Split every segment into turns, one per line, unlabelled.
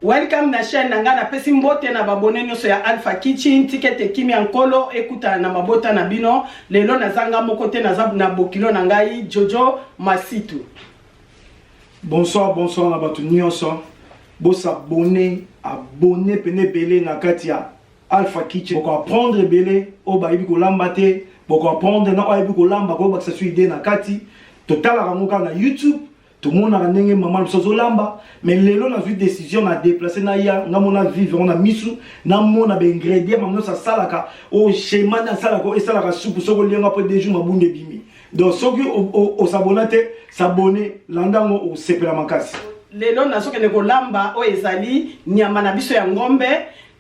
welcome na chaîne na ngai napesi mbote na babone nyonso ya alpha kitchen tikete kimi ya nkolo ekutana na mabota na bino lelo nazanga moko te naza na bokilo na ngai jojo masitu
Bonsoir, bonsoir na bato nyonso. Bo s'abonner, abonner pene ebele na kati ya Alpha Kitchen. Boko apprendre ebele oyo bayebi kolamba te, boko apprendre na oyo ayebi kolamba ko bakisa su idée na kati. Totalaka ngo kaka na YouTube, tomonaka ndenge mama biso azolamba, mais lelo nazwi décision na déplacer na ya nga mona vivre ngo na misu, na mona ba ingredients mama nyonso asalaka, oyo schéma na asalaka esalaka supu soko lianga po deux jours mabunda ebimi. donc soki osabona te sabone landa yango osepela makasi lelo nazokende
kolamba oyo ezali nyama na biso ya ngombe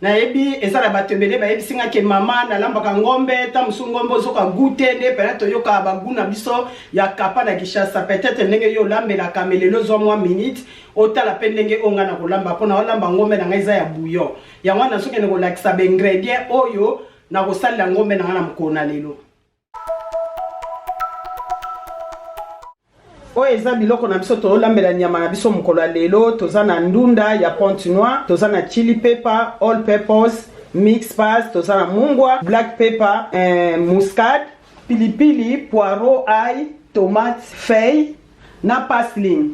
nayebi eza na bato ebele bayebisi nga ke mama nalambaka ngombe ta mosusu ngombe ozoka gute nde pena toyoka bagu na biso ya kapa na kishasa peut-être ndenge yo olambelaka me lelo zwa mwa minute otala mpe ndenge oyo ngai nakolamba mpo naolamba ngombe na ngai eza ya bouillon yango wana nazokende kolakisa baingredient oyo nakosalela ngombe na ngai na mokolo na lelo oyo eza biloko na biso tolambela nyama na biso mokolo ya lelo toza na ndunda ya ponte noir toza na chili pepper all peppers mix pas toza na mungwa black pepper eh, muscade pilipili poireau ai tomate feuille na pasling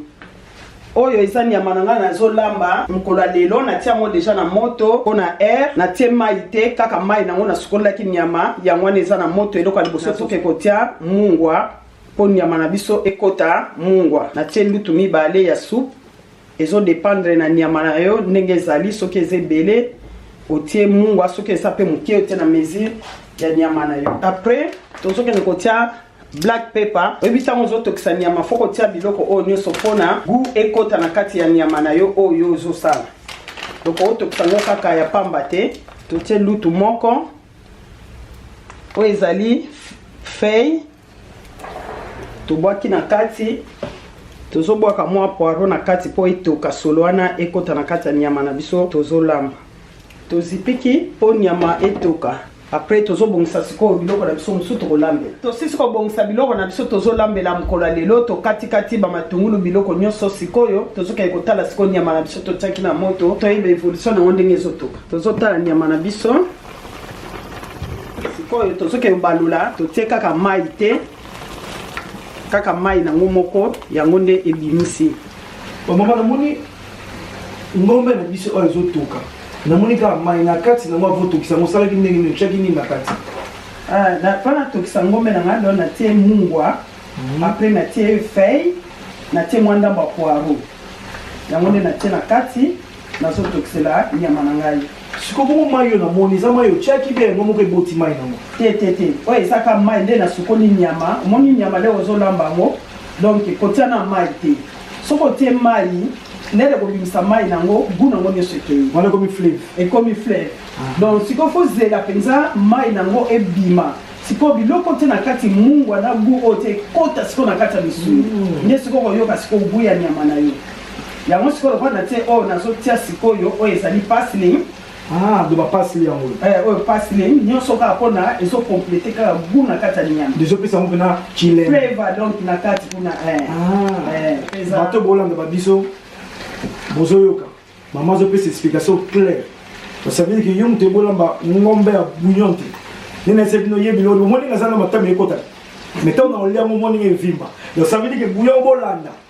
oyo eza nyama na ngai nazolamba mokolo ya lelo natia yango deja na moto mpo na air natie mai te kaka mai nango nasukolelaki nyama yango wana eza na moto eloko ya liboso toke kotia mungwa mpo nyama na biso ekota mungwa natie lutu mibale ya soupe ezodependre na nyama na yo ndenge ezali soki eza ebele otie mungwa soki eza mpe moke otie na mesure ya nyama na yo après tozokende kotia black pepper oyebi ntango ozotokisa nyama fo kotia biloko oyo nyonso mpo na gu ekota na kati ya nyama na yo oyo ozosala donc otokisa yango kaka ya pamba te totie lutu moko oyo ezali fei tobwaki na kati tozobwaka mwa poiro na kati mpo etoka solo wana ekota na kati ya nyama na biso tozolamba tozipiki mpo nyama etoka Après tozobongisa sikoyo biloko na biso mosusu tokolambela. Tosisi kobongisa biloko na biso tozolambela mokolo ya lelo tokatikati bamatungulu biloko nyonso sikoyo tozokende kotala sikoyo nyama na biso totiaki na moto toyeba evolution na yango ndenge ezotoka. Tozotala nyama na biso sikoyo tozokende kobalula totie kaka mai te kaka mai nango moko yango nde ebimisi. Bomama
namoni ngombe na biso oyo ezotoka namoni kaka mai na kati nango avotokisa yango osalaki ndenge nini otyaki nini na kati ah, mpo
natokisa ngombe na ngai lelo natie mungwa mhm. apre natie fei natie mwa ndambo ya poiro yango nde natie na kati nazotokisela nyama na ngai siko bongo mai oyo
namoni eza mai otyaki bia yango moko eboti mai nango te te te oyo
ezaka mai nde nasukoli nyama omoni nyama leo ozolamba yango donk kotia na mai te soki otie mai nere kobimisa mai nango gu nango nyonso ekei wana ekomi fleve
ekomi fleve ah.
donc sikoyo fozela mpenza mai nango ebima sikoyo biloko te na kati mungwa na gu oyo te ekota sikoyo na kati ya misuni mm. nde sikoyo koyoka sikoyo gu ya nyama na yo yango sikoyo lokola na te oyo nazotia sikoyo oyo ezali pasling Ah, de
bapasili yango eh, oyo pasili eh,
nyonso kaka mpona ezokomplete kaka gu na kati ya linyama ezopesa yango mpena
kileva donc na
kati kuna
eh. ah, bato bolanda babiso bozoyoka mama azopesa explication claire osavili ke yo moto ebolamba ngombe ya bouillon te nini ese bino yebi lolo omoni nga aza na matama ekotaka mais ntango na olia ngo omoni nga evimba osavili ke bouillon bolanda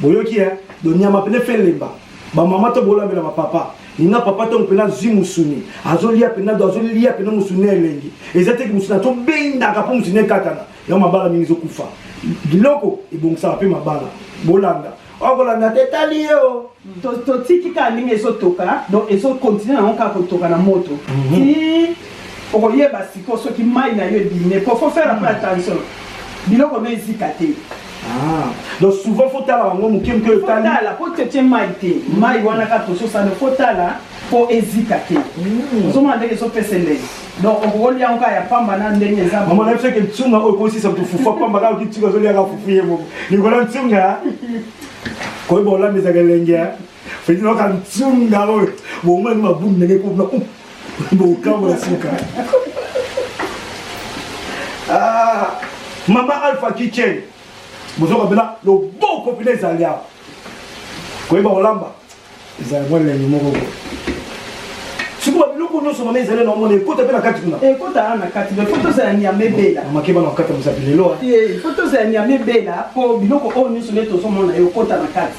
boyoki ya
do nyama pene fe lemba ba mama to bolambela ba papa ninga papa to mpena zwi musuni azolia mpena do azolia mpena musuni na elengi eza te musuni atobendaka mpo musuni ekatana yango mabala mingi ezokufa biloko ebongisaka mpe mabala bolanda okolanda te etali ye o totiki
kaka ndenge ezotoka donc ezokontinue yango kaka kotoka na moto mhm. ti okoyeba siko soki mai na yo ebimi po fo faire mpe mhm. attention biloko no ezika te Ah.
donc souvent faut tala
bango moke
moke
otala po tete mai te mai
wana
kaka tososana faut tala po ezika te hmm. ozomona ndenge ezopesa elei donc okokolia yango kaka ya pamba na ndenge eza mama na biso ke ntunga
oyo ekosisa kutu fufu pamba kaka kitunga azoliaka fufu ye moko likolo ntunga koyeba olambisaka elenge Feti na ka ntsunda oyo bongo ni mabu ndenge ko na bokambo na suka. Ah, mama Alpha Kitchen. Bozo kabela loboko pina ezali awa. Koyeba kolamba ezali mwa lengi moko boye. Sikuba biloko nyonso mama ezali na omona ekota mpe na kati kuna. Ekota wana na kati mais
foto ezala nyame bela. Mama keba na kata mosapi
lelo. Eh, foto ezala
nyame bela po biloko oyo nyonso nde tozomona ekota na kati.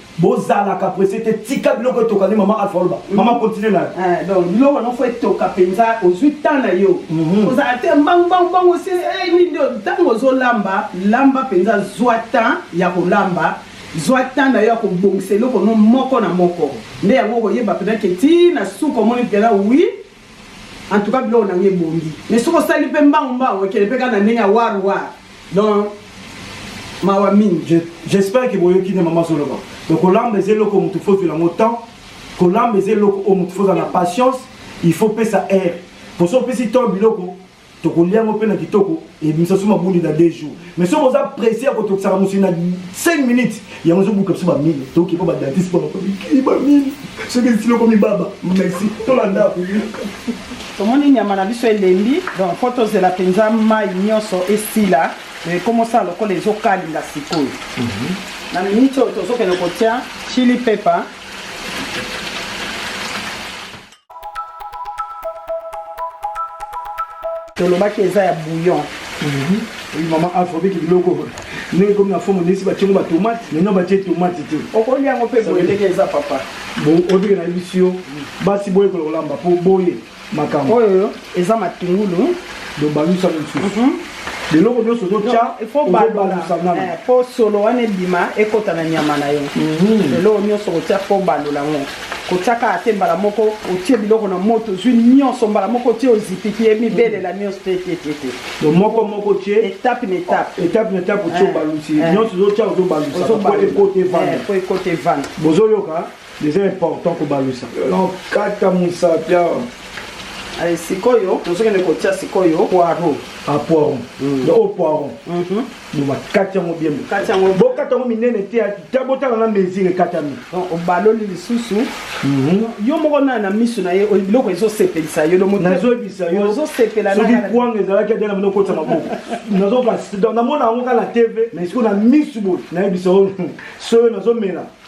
bozalaka presse te tika biloko etoka nde mama alpha oloba mhm. mama continue na eh, donc biloko yango fo
etoka mpenza ozwi temps na yo mhm. ozala te mbangubangubang osi eh, nini ntango ozolamba lamba mpenza zwa temps ya kolamba zwa temps na yo ya kobongisa eloko no moko na moko nde yango okoyeba mpenza ke ti na suka omoni mpenza wi en tout cas biloko na nga ebongi mais soki osali mpe mbangu mbangu ekende mpe kaka na ndenge ya war war donc mawa mingi j'espère ke boyoki
nde mama azoloba donc kolamba eza eloko motu fo ozwela yango temps kolamba eza eloko oyo motu fo ozala na patience il faut pesa aire mpo so opesi temps biloko tokolia yango mpe na kitoko ebimisa biso mabundi na 2 jours mais soki oza presse ya kotokisaka mosuni na 5 minutes yango ezobuka biso bamile toki mpo badentiste mpo bakobikili bamile soki esili okomi baba merci tolanda
tomoni nyama na biso elembi donc mpo tozela mpenza mai nyonso esila ekomosala lokola ezokalinga sikoyo mhm. na miniti oyo tozokende kotya chili pepa tolobaki eza ya bouillon Oui,
maman afrobeat biloko ndenge komi na fomo ndesi batyongo batomate maintenant batye tomate te okolia yango mpe boye
ndenge eza papa obike na
yebisi yo basi boyekola kolamba mpo boye makambo oyo eza
matungulu bobalusa
mosusu mhm. biloko nyonso totya ozobalusa
nano eh, mpo solo wana ebima ekota na nyama na yo mhm. eloko nyonso kotya mpo obalola yango kotya kaka te mbala moko otie biloko na moto ozwi nyonso mbala moko otie ozipiki ye mibelela mhm. nyonso te te te te do moko
moko otie etape na etape
etape na etape
otie eh, obalusi eh. nyonso ozotya ozobalusa mpo ekota evanda mpo ekota evanda bozoyoka Eza important kobalusa. Non, kata musapi awa. Allez,
sikoyo, tozokende kotia sikoyo poireau. Ah, poireau. Mm.
Donc, au poireau. Mhm. Donc, bah, kati yango bien. Kati yango. Bo kata yango minene te, ta bota na mesure ekatami. Donc, obaloli
lisusu. Mhm. Yo moko na na misu na ye, biloko ezo sepelisa yo, donc nazo bisa yo. Ozo
sepela na. Soki kwanga
ezala
ke dela moko kota maboko. Nazo ka donc na mona yango kala TV, mais sikoyo na misu bo, na yebisa yo. Soyo nazo mela.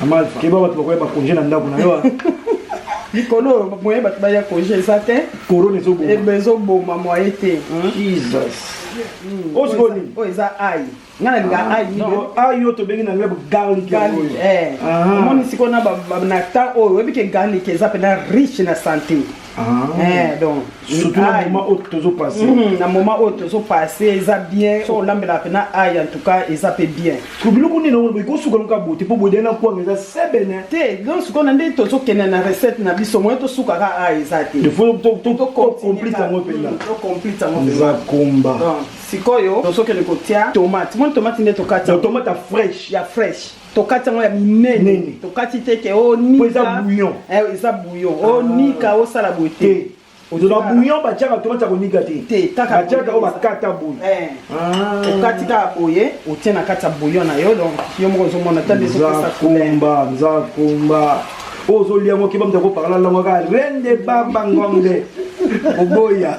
Amal, keba bato bakoya bakonje na ndako na yo ah. likolo
moye bato baya konje eza te korona
ezoboma
moye te oyo
sikoyo nini oyo eza ai
nga nalinga ah, ai ai oyo
tobengi na leb garlic eh. ah.
omoni sikoyo na temps oyo oyebi ke garlic eza mpena riche na santé Ah. Eh, donc surtout na
moment oyo tozo passe mhm, na moment oyo
tozo passe eza bien so olambela pe na ai en tout cas eza pe bien ko biloko nini ngo
ko suka loka bote po bodela ko ngeza sebene te donc suka na nde
tozo kena na recette na biso moyen to suka ka ai eza te il faut to to to complete
ngo pe là to complete ngo pe za combat sikoyo
tozokende kotia tomate moni tomate nde tokati tomate ya fresh ya
fresh tokati yango ya
minene tokati te ke onika oh, bouillon eh, eza bouillon onika oh, ah. osala boye te ozwa bouillon
batiaka to batia konika te te kaka batiaka oyo bakata boye eh. ah. okati
kaka boye otie na kati ya bouillon na yo donc yo moko ozomona ta nde ezopesa kumba
nza kumba oyo ozolia yango keba moto akoparla lango kaka rende baba ngombe oboya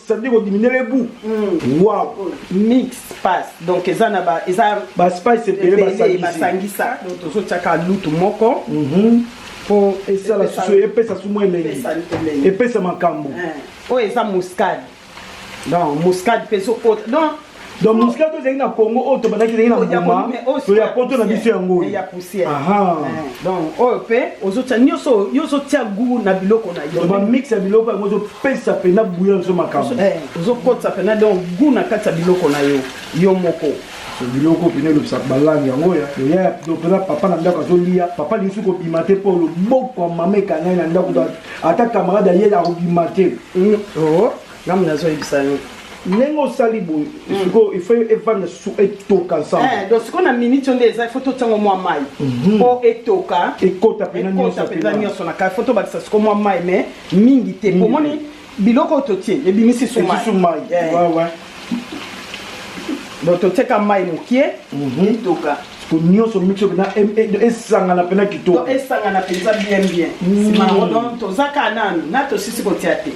ça veut dire au diminuer les bouts mm. wow mix
pass donc eza na ba eza ba spice
ebele ba sangisa ba sangisa
donc tozo tchaka lutu moko mm -hmm. po
esa la susu epesa su mwe lengi epesa makambo eh. oyo eza
muscade donc muscade peso kota donc donc mosika
to ezalaki na congo oyo tobandaki ezalaki na mbuma to ya poto na biso yango oyo donc oyo mpe
ozotya nyonso yo ozotya gu na biloko na yo bamix ya biloko yango
ozopesa mpena buya nso makambo eh, ozokotisa mpena
donc gu na kati ya biloko na yo yo moko biloko
mpena elobisaka balangi yango ya mpena papa na ndako azolia papa lingi kobima te mpo loboko ya mama ekangai na ndako ata camarade ayeli akobima te mm, oh.
Ngambo nazo yebisa yo. Ndenge osali
boye, mm. siko il faut evanda su etoka ensemble. Eh, donc siko na minute
onde eza il faut totiango mwa mai. Mhm. Po etoka. Ekota pena nyoso.
Ekota pena nyoso na kai
faut tobakisa siko mwa mai mais mingi te. Po moni biloko oyo totie ebimisi su mai. Su mai. Eh. Ouais
ouais.
Donc totiaka mai mokie mhm. etoka. ko nyonso
mixe mpenza esangana mpenza kitoko esangana mpenza
bien bien nsima yango don toza kaka nanu na tosisi kotia te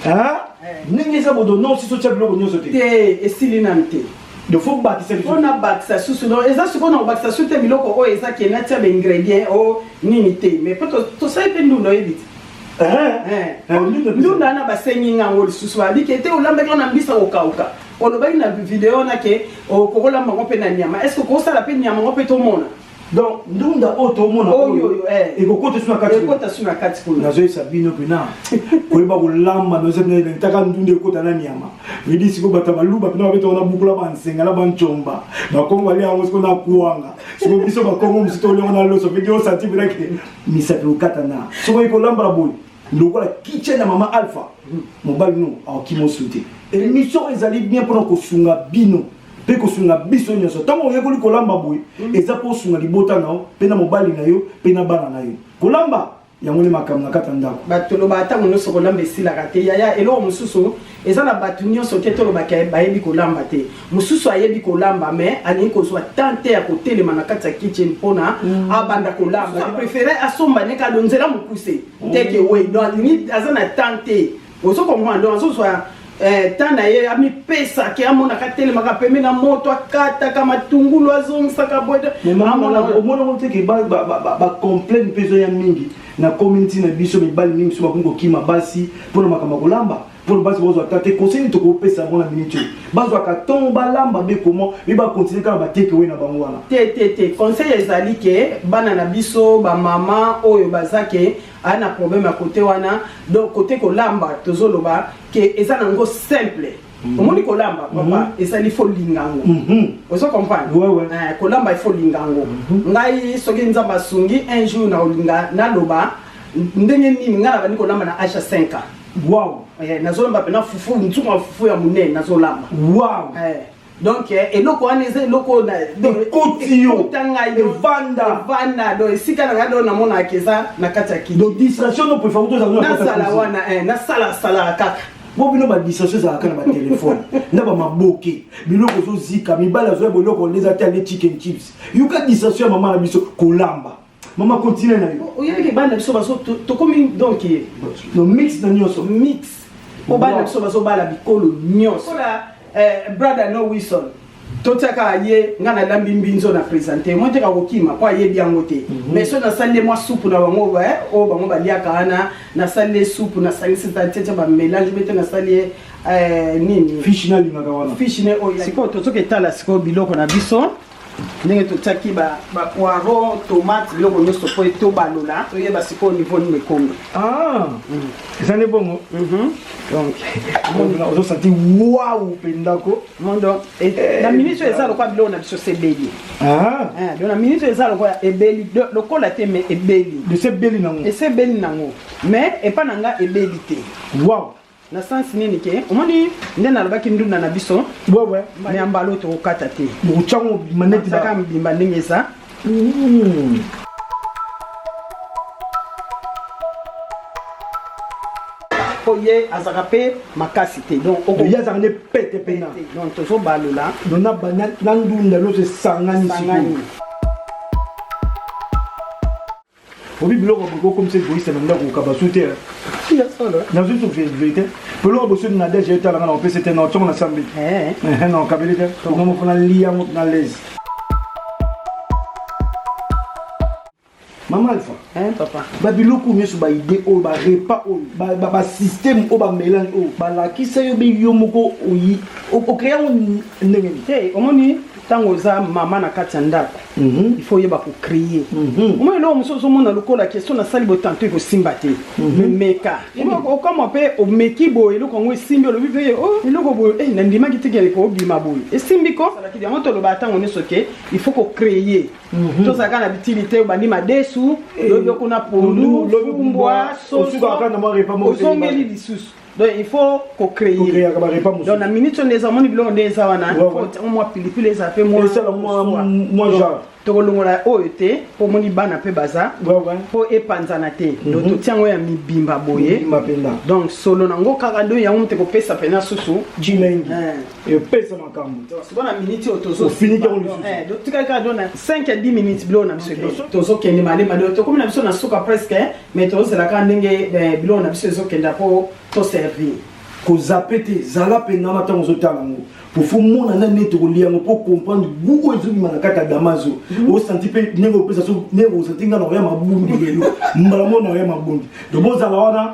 ndenge eza bodo no osisi otya biloko nyonso te te esili nanu
te faut bakisa
mpo nabakisa susu
no eza sikoyo na kobakisa susu te biloko oyo eza ke natya baingredient o nini te mais mpo tosali mpe ndunda oyebi te ndunda wana basengi ngango lisusu babike te olambaki wana mbisa kokauka olobaki na video wana ke okokolamba ngo mpe na nyama est ce que okosala mpe nyama ngo mpe tomona donc ndunda
oyo tomona oyo eh. ekokota
su na kati
ekota su na kati kuna
nazoyesa bino mpena
koyeba kolamba nozataka ndunda ekota na nyama midi sikoyo bato baluba mpena babeta wana bukula bansenga na bancomba bakongo balia yango sikoyo na kuanga sikoyo biso bakongo mosusu toliongo na loso mpe diosati mpena ke misapi okata na sokoyi kolambala boye lokola kitchen ya mama alpha mobali no akimo sute emission ezali bien mpona kosunga bino mpe kosunga biso nyonso ntango oyekoli kolamba boye mm. eza mpo osunga libota na yo mpe na mobali na yo mpe na bana na yo kolamba yango nde makambo na kati ya ndako batolobaka ntango nyonso
kolamba esilaka te yaya eloko mosusu eza na bato nyonso te tolobaka bayebi kolamba te mosusu ayebi kolamba mais alingi kozwa temps te ya kotelema na kati ya kitchen mpona mm. abanda kolamba prefere asomba ne kado nzela mokuse mm. teke wei don alingi aza na temps te ozo comprendre don azozwa eh, temps na ye amipesa ke amonaka atelemaka pembe na moto akataka matungulu azongisaka boye omonango
teke bacomplaine mpe ezoya mingi na komi ntina biso mibali mingi biso bakomi kokima basi mpo na makambo ya kolamba mpo na basi bazwa ata te conseil nini tokopesa yango na miniti oyo bazwaka ntongo balamba be koma mi bakontinue kaka batekewe na bango wana te te te conseil
ezali ke bana na biso bamama oyo baza ke aya na problème ya kote wana donc kote kolamba tozoloba ke eza na yango simple Mhm. omoni kolamba papa mhm. ezali fo linga yango mhm. ozo comprendre eh, kolamba
ifo linga
yango ngai soki nzambe asungi un jour nakolinga naloba ndenge nini ngai nabandi kolamba na age ya 5 ans wow eh,
nazolamba mpena
fufu nsuku ya fufu ya monene nazolamba wow eh,
donc
eloko wana eza eloko ekoti yo
evanda evanda do esika na
ngai do namonaka eza na kati ya kiti nazala
wana
nasalasala kaka mpo bino badistraction
ezalaka na batelefone na bamaboke biloko ezozika mibali azoya boloko nde eza te ande chicken chips yoka distraction ya mama na biso kolamba mama continue na yo oyebiki bana biso baso
tokomi donc no mix
na nyonso mix mpo
bana biso bazobala bikolo nyonso eh, brother no wilson totiaka aye ngai nalambi mbinzo na presente moi teka kokima mpo ayebi yango te mhm. mais so nasali nde mwa supu na bango oyo eh, oh, bango baliaka wana nasali nde supu nasalisi tatete bamelange bete nasali ye eh, nini fishi nalingaka
wana fishi ne oyo sikoyo
tozoka etala sikoyo biloko na biso ndenge totiaki bapoiron tomate biloko nyonso mpo tobalola toyeba sikoyo niveau nini ekomi ah,
mm. eza nde bongo mhm. donc ozosanti wau mpendako mondo eh,
eh, na minute eza lokola biloko na biso sebeli ah. eh, do na minute eza lokola ebeli lokola te mais ebeli esebeli nango esebeli nango mais epa
na nga
ebeli te
wow
na sense nini ke omoni nde nalobaki ndunda na biso mais ya
mbalo
tokokata te maneti
kaka mobimba ndenge eza
Mmh. mpo ye azalaka mpe makasi te donc ye azalaka nde pete
mpena donc tozobalola
na
ndunda loso esangani sikoyo obi biloko ya boye okomisa egoiste na ndako kokaba su te nazwi su verité biloko boso na deje etala nga na kopesa te na ntongo na sambi na okabeli te nga moko nali yango na lezi mama alpha babiloko
nyonso
baide oyo barepa oyo basysteme oyo bamelange oyo balakisa yo be yo moko oyi okrea yango ndenge nini omoni
ntango oza mama na kati ya ndako Mhm. il faut oyeba ko créer mhm. omoni eloko mosusu ozomona lokola question nasali boye tanto ekosimba te mhm. memeka okoma mpe omeki boye eloko yango esimbi olobi mpe oh, eloko boye eh, nandimaki teke eleko obima boye esimbi ko yango tolobaka ntango nyonso ke il faut ko créer tozalaka na bitili te obandi madesu eh. lobi okuna pondu lobi kumbwa soso ozongeli lisusu donc il faut ko créer ko créer ba repas mususu donc na minute on eza moni biloko nde eza wana faut moi pilipili eza pe moi eza la moi moi genre tokolongola oyo te mpo omoni bana mpe baza mpo epanzana te mhm. donc totia yango ya mibimba boye donc solo nango kaka do yango mote kopesa mpena susu jilengi eh.
epesa makambo bana miniti oyo
tozofiniki yango lisusu tikali kaka dona 5 ya 10 minutes biloko na biso ebele tozokende malema leo tokomi na biso na suka presque eh. mais tozozela kaka ndenge eh, biloko na biso ezokenda mpo toservir kozape
te zala mpengama ntango ozotala yango pofo mona nani neti okolia yango mpo comprendre gu oyo ezobima na kati ya damazo mhm. osanti mpe ndenge opesa so ndenge osanti ngai na oya mabundi lelo mbala mona oya mabundi donc bozala wana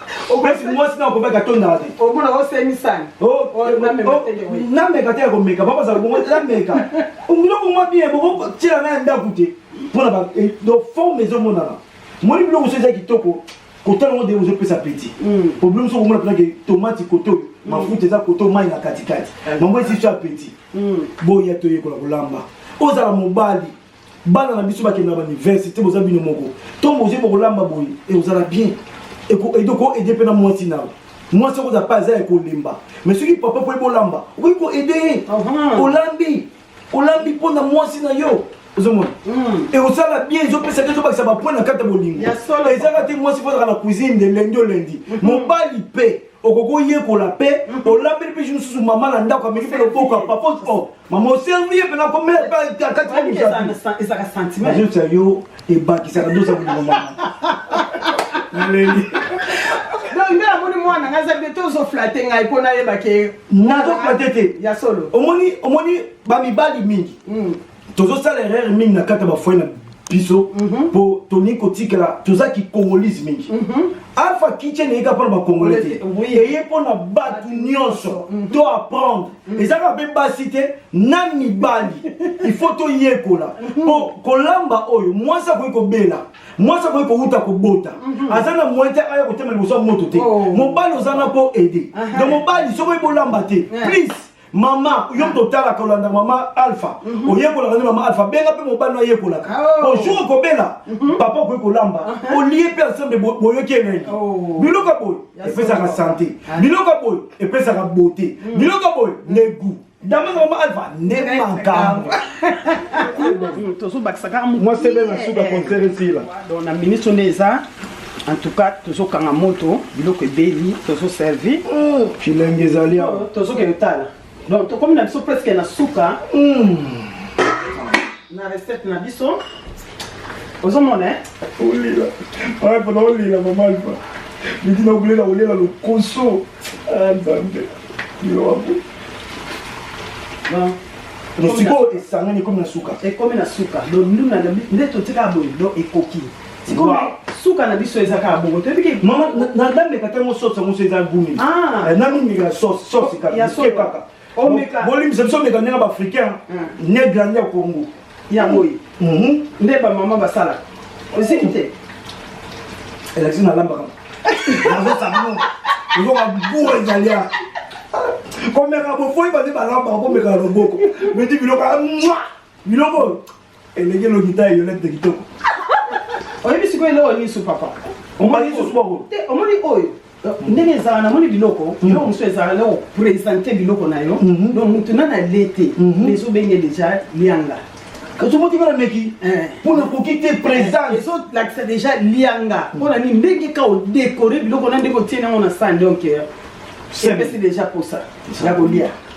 opesi mwasi na okobaki atondaka te omona osemisani nameka te ya komeka bakozala bongo nameka biloko mwa bien bokotyela na ya ndako te mpona eh, donc forme ezomonana moni biloko so eza kitoko kotala ngo ndenge ozopesa peti hmm. problème so komona mpena ke tomati koto oyo hmm. mafuta eza koto mai na katikati hmm. mango esi so ya peti boya toyekola kolamba ozala mobali bana na biso bakendaka bauniversité boza bino moko ntongo bozwi bokolamba boye ekozala bien ekoede mpe na mwasi nao mwasi okoza mpe aza ya kolemba mais soki papa mpo ebolamba okoki koede ye olambi olambi mpo na mwasi na yo ozomona hmm. ekosala bien ezopesa te ezobakisa bapoint na kati ya bolingo ezaka te mwasi fozaka na cuisine de lendi o lendi hmm. mobali mpe okoki oyekola mpe mhm. olambeli mpe mosusu mama na ndako ameki mpe loboko ya papa o mama oservi ye mpe nakomeazotia
yo
ebakisaka dosa molimo mama naleli
nde namoni mwana ngai aza bete ozoflate ngai mpo nayebake nazoflate te
ya solo omoni
omoni
bamibali mingi mm. tozosala erreur mingi na kati ya bafoye na biso mpo mm -hmm. tolingi kotikela toza kikongolise mingi mm -hmm. alpha kitchen eyeka mpo na bakongole te eye mpo na bato nyonso mhm. to apprendre mhm. ezaka mpe basi te na mibali il faut toyekola mhm. mpo kolamba oyo mwasi akoki kobela mwasi akoki kowuta kobota aza na moyen te aya kotema liboso ya moto te oh. mobali oza na mpo aide donc mobali soki oyebi olamba te please mama yo moto otalaka olanda mama alpha mhm. oyekolaka nde mama alpha benga mpe mobali ayekolaka oh. ojour okobela mhm. papa okoki kolamba uh-huh. olie mpe ensemble boyoki elengi oh. biloko ya boye epesaka sante ah. biloko ya boye epesaka bote mm. biloko ya boye ne gout damanga mama alpha nde makambo
tozobakisaka mwasi ebe na suka
concert esila na ministre nde
eza En tout cas, tozo kanga moto, biloko ebeli, tozo servi. Oh, kilengi ezali awa. Oh, tozo kende tala. Donc tokomi na biso presque na suka.
Mm.
Na recette na biso. ozomona eh? olila
aya mpona olila mama alfa midi na obulela olela lokoso aya ah, nzambe
yoabo
sikoyo esangani ekomi na suka ekomi na suka
donuna nde totika boye do ekoki Sikoyo suka na biso eza kaka bongo toyebi ke mama na dame
kata ngo sauce yango so eza gumi ah. eh, na mingi ya
sauce
sauce kaka ya sauce kaka
omeka bolimisa biso meka ndenge ba
africain ah. ne grandi ya Congo ya boye
mhm. nde ba mama basala oziki te
elakisi na lamba kama nazo sabon ozo ka boue ezali ya komeka bofoyi bande balamba komeka loboko meti biloko ya mwa biloko elenge lolita eyolete kitoko oyebi
sikoyo eloko nini su papa omoni susu boko
te omoni oyo
ndenge ezala namoni biloko mm. biloko mosusu ezala na kopresente biloko na yo mm-hmm. donc motu na na le te mm-hmm. ezobenge deja lianga ozomoti bana
meki eh. mpo nakoki te présence eh, ezolakisa deja
lianga mpo na nini ndenge ka odekore biloko na ndenge otie nango na sani donc eh, epesi deja mposa ya kolia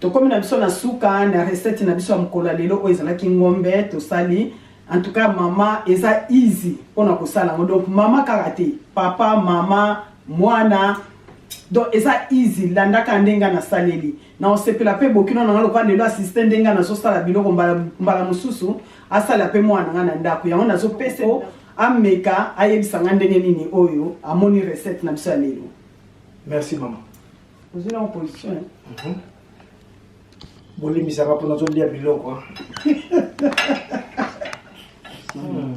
tokomi na biso na suka na recette na biso ya mokolo ya lelo oyo ezalaki ngombe tosali en tout cas mama eza easy mpona kosala yango donc mama kaka te papa mama mwana donc eza easy landaka ndenge nasaleli Na osepela pe bokino na nga lokola lelo asiste ndenge nga nazo sala biloko mbala mbala mosusu asala pe mwana na nga na ndako yango nazo pesa o ameka ayebisa nga ndenge nini oyo amoni recette na biso ya lelo. Merci
maman. Ozwi na
opposition. Mm -hmm.
Bolimbisaka mpo nazo lia biloko. mm.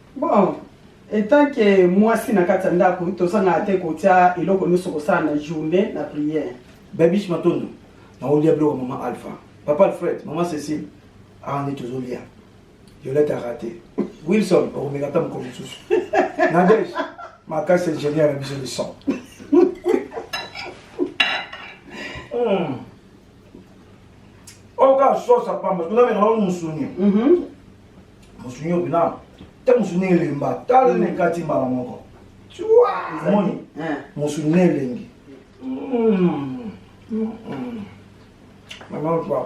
Bon,
etant que mwasi na kati ya ndako tozangaka te kotia eloko nyonso kosala na journée na prière. Babish Matondo,
naolia biloko mama Alpha, papa Alfred, mama Cécile, awa nde tozolia. Violette arate. Wilson okomeka ata mokolo mosusu. Nadège makasi ingénieur na biso de son. Hmm. Oka sosa pamba, tunameka na musuni. Mhm. mosungi opina te mosungi elemba tala na ekati mbala moko moni mosungi elengi mama pa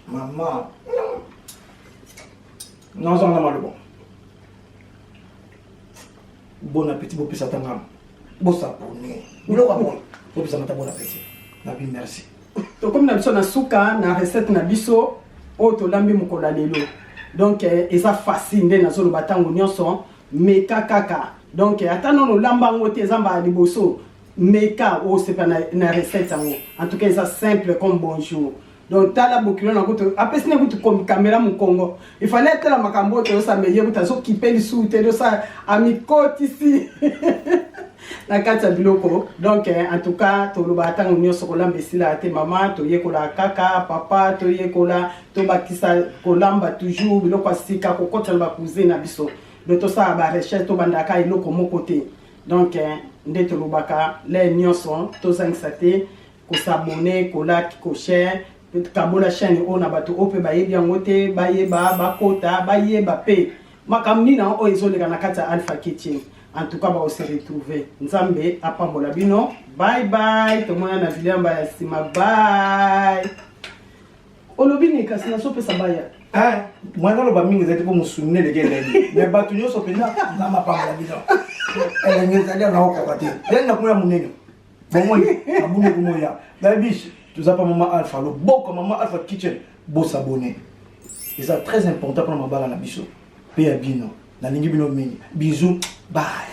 mama nazanga na maloba Bon appétit bopesa ta ngam. Bosabone. Biloko ya boye. Bopesa mata bon appétit. Nabi merci. Tokomi na biso
na suka na recette na biso oyo tolambi mokolo ya lelo. Donc eh, eza facile nde nazoloba ntango nyonso meka kaka. Donc eh, ata nono olamba yango te eza mbala liboso meka osepela na, na recette yango. En tout cas eza simple comme bonjour. donc tala bokilo na kutu apesi ne kutu kamera mokongo ifale atala makambo oyo toyosamba eye kutu azokipe lisusu te dosa amikotisi na kati ya biloko donc eh, en tout cas tolobaka ntango nyonso kolamba esilaka te mama toyekolaka kaka papa toyekola tobakisa kolamba toujours biloko ya sika kokotisa na bakusin na biso do tosala barecherche tobandaka eloko moko te donc eh, nde tolobaka le nyonso tozangisa te ko s'abonner ko like ko share kabola chaîne oyo na bato oyo mpe bayebi yango te bayeba bakota bayeba mpe makambo nini yango oyo ezoleka na kati ya alpha kitchen en tout cas bakose retrouve nzambe apambola bino bye bye tomona na video yamba ya nsima bye olobi nini kasi nasopesa baya eh, mwana
naloba mingi ezali mpo mosuni neleki elenge me bato nyonso mpenza nzambe apambola bino elenge ezali anaokaka te yani nakomona monene bomoni abungi kumoya babish toza pa mama alpha loboko mama alpha kitchen bosabone eza très important mpona mabala na biso mpe ya bino nalingi bino mingi bisou bye